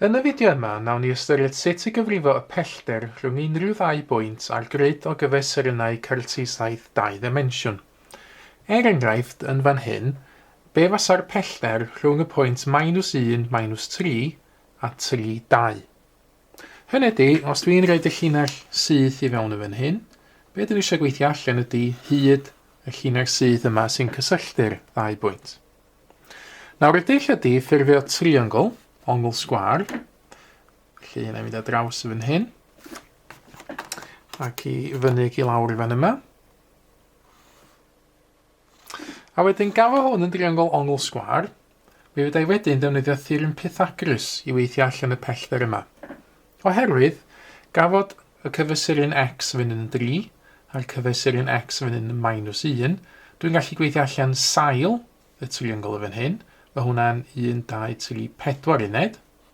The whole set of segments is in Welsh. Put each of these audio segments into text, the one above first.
Yn y fideo yma, nawn ni ystyried sut i gyfrifo y pellter rhwng unrhyw ddau bwynt a'r grid o gyfesurynnau cyrtisaith dau ddimensiwn. Er enghraifft, yn fan hyn, be fasa'r pellter rhwng y pwynt minus un, minus tri, a tri, dau? Hynny ydi, os dwi'n rhoid y llinell syth i fewn yn fan hyn, be dwi eisiau gweithio allan ydi hyd y llinell syth yma sy'n cysylltu'r ddau bwynt. Nawr y dull ydi ffurfio triongl, ongl sgwar, felly yna i fynd â draws i fan hyn, ac i fyny ac i lawr i fan yma. A wedyn gafo hwn yn driongl ongl sgwâr, mi fedrai wedyn ddefnyddio theorem Pythagrys i weithio allan y pellter yma. Oherwydd, gafod y cyfesuryn x fynd yn 3, a'r cyfesuryn x fynd yn minus 1, dwi'n gallu gweithio allan sail y triongl y fan hyn, mae hwnna'n 1, 2, 3, 4 uned.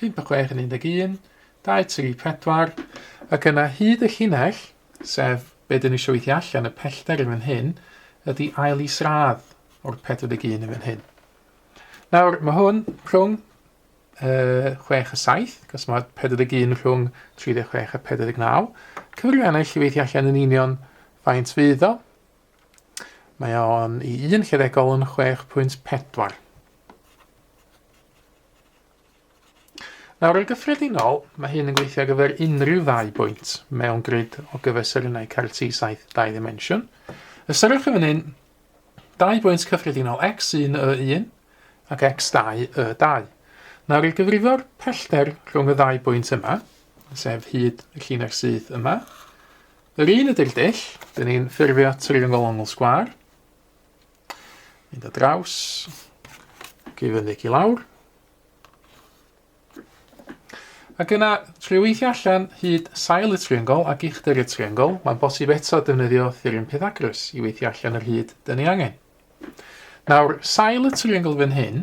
Pump a chwech yn un deg un, dau, tri, pedwar, ac yna hyd y llinell, sef be dyn ni eisiau weithio allan, y pellter yn fan hyn, ydy ail is radd o'r 41 yn fan hyn. Nawr, mae hwn rhwng uh, 6 a 7, cos mae 41 rhwng 36 a 49. Cyfrifiannau llyweithio allan yn union faint fydd o. Mae o'n i un lledegol yn 6.4. Nawr, yn gyffredinol, mae hyn yn gweithio ar gyfer unrhyw ddau bwynt mewn grid o gyfesurynnau CAR-T 7 dau ddimensiwn. Ystyriwch yn hyn dau bwynt cyffredinol x1 y1 ac x2 y2. Nawr, i gyfrifo'r pellter rhwng y ddau bwynt yma, sef hyd y llinell syth yma, Yr un ydy'r dull, dyn ni'n ffurfio triongl ongl sgwar. Mynd o draws, i fynyg i lawr. Ac yna, trwy weithio allan hyd sail y triongl ac uchder y triongl, mae'n bosib eto defnyddio theorem Pythagoras i weithio allan yr hyd dyn ni angen. Nawr, sail y triongl fan hyn,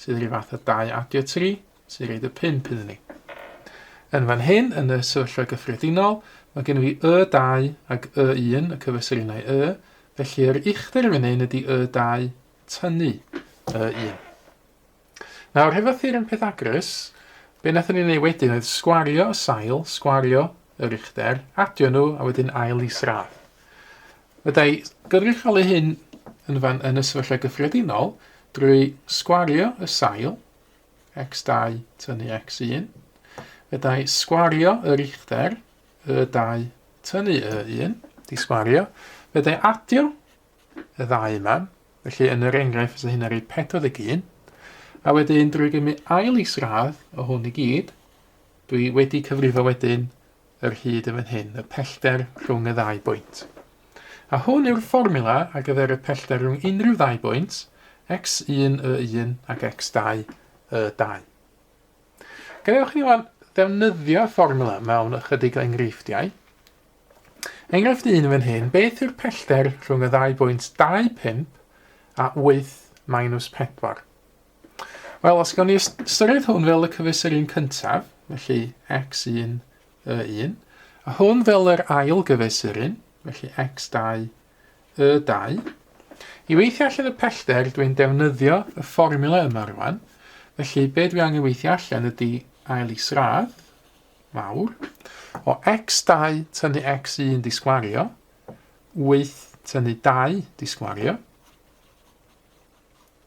sydd rhyw fath o 2 adio 3, sy'n rhaid y 5 iddyn ni. Yn fan hyn, yn y sefyllfa gyffredinol, mae gennym ni Y2 ac Y1, y cyfesyrinau Y, felly yr uchder fan hyn ydy Y2 tynnu Y1. Nawr, hefo theorem Pythagoras, be wnaethon ni wneud wedyn oedd sgwario y sail, sgwario yr uchder, adio nhw a wedyn ail isradd. Byddai gynrychioli hyn yn fan yn y sefyllfa gyffredinol drwy sgwario y sail, x2 tynnu x1, fyddai sgwario y richter, y2 tynnu y1, di sgwario, fyddai adio y ddau yma, felly yn yr enghraifft fysa hyn ar ei 41, a wedyn drwy gymu ail is-radd o hwn i gyd, dwi wedi cyfrifo wedyn yr hyd yn fan hyn, y pellter rhwng y ddau bwynt. A hwn yw'r fformula ar gyfer y pellter rhwng unrhyw ddau bwynt, x1 y1 ac x2 y2. Gadewch ni wan ddefnyddio fformula mewn ychydig o enghreifftiau. Enghraifft 1 yn fan hyn, beth yw'r pellter rhwng y ddau bwynt 25 a 8 minus 4? Wel, os gawn ni ystyried hwn fel y cyfeisir un cyntaf, felly x1, y1, a hwn fel yr ail gyfeisir un, felly x2, y2. I weithio allan y pellter, dwi'n defnyddio y fformula yma rwan, felly be dwi angen weithio allan ydy ail i sradd, mawr, o x2 tynnu x1 di sgwario, 8 tynnu 2 di sgwario,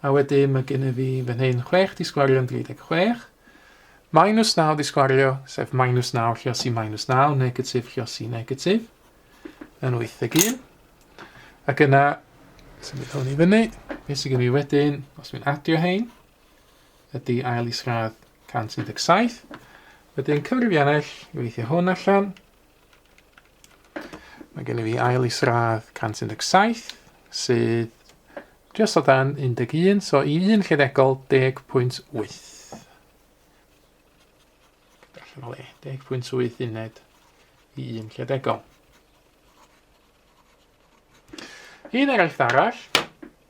A wedyn mae gen i fi fan hyn 6 di sgwario yn 36. Minus 9 di sgwario, sef minus 9 llios i minus 9, negatif llios i negatif, yn 81. Ac yna, sy'n mynd hwn i fyny, beth sy'n gen i wedyn, os mi'n adio hein, ydy ail isradd 117. Wedyn cyfrifiannell i weithio hwn allan, Mae gen i fi ail isradd 117 sydd just o dan 11, so i un lleddegol 10.8. Darllen o le, 10.8 uned i un lleddegol. Un eraill arall,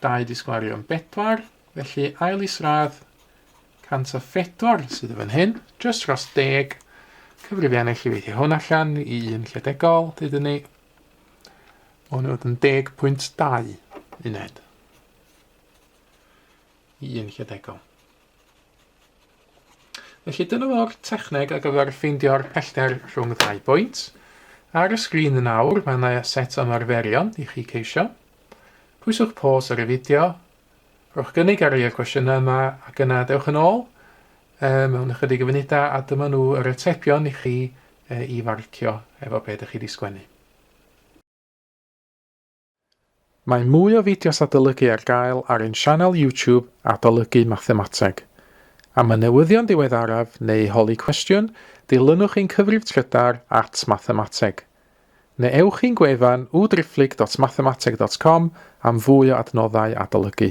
Dau di sgwario yn bedwar, felly ail isradd 104 sydd yn fan hyn, just dros deg. Cyfrifiannau chi weithio hwn allan i un lledegol, dydyn ni. Mae hwn yn 10.2 uned i un lledegol. Felly dyna fo'r techneg ar gyfer ffeindio'r pellter rhwng ddau bwynt. Ar y sgrin yn awr mae yna set o ymarferion i chi ceisio. Pwyswch pos ar y fideo, rhowch gynnig ar rei o'r cwestiynau yma ac yna dewch yn ôl mewn ychydig o funudau a dyma nhw yr atebion i chi i farcio efo be ydych chi wedi sgwennu. Mae mwy o fideos adolygu ar gael ar ein sianel YouTube Adolygu Mathemateg. Am y newyddion diweddaraf neu holi cwestiwn, dilynwch ein cyfrif trydar at Mathemateg. Neu ewch i'n gwefan www.driphlyg.mathemateg.com am fwy o adnoddau adolygu.